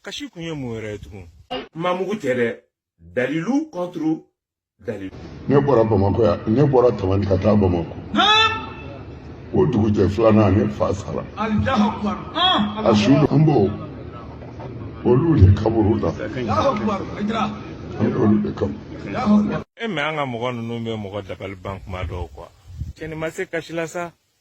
kasi kun ye mun yɛrɛ ye tugun mamugu tɛ dɛ dalilu contre dalilu ne bɔra bamakɔ yan ne bɔra tamani ka taa bamakɔ o dugujɛ filanan ne fa sara a su an b'o olu de kaburu la an y'olu de kaburu e mais an ka mɔgɔ ninnu bɛ mɔgɔ dabali ban kuma dɔw quoi cɛ nin ma se kasi la sa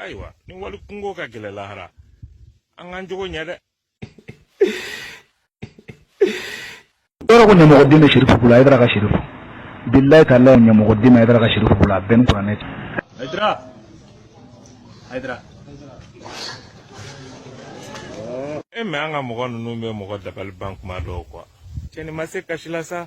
ayiwa ni wali kunko ka gɛlɛn lahara an k'an jogo ɲɛ dɛ yɔrɔ ko ɲamɔgɔden bɛ sirifu bolo ayidara ka sirifu bilayi taala ɲamɔgɔden bɛ ayidara ka sirifu bolo a bɛɛ ni kuranɛ cɛ ayidara ayidara e mais an ka mɔgɔ ninnu bɛ mɔgɔ dabali ban kuma dɔw quoi cɛ nin ma se kasi la sa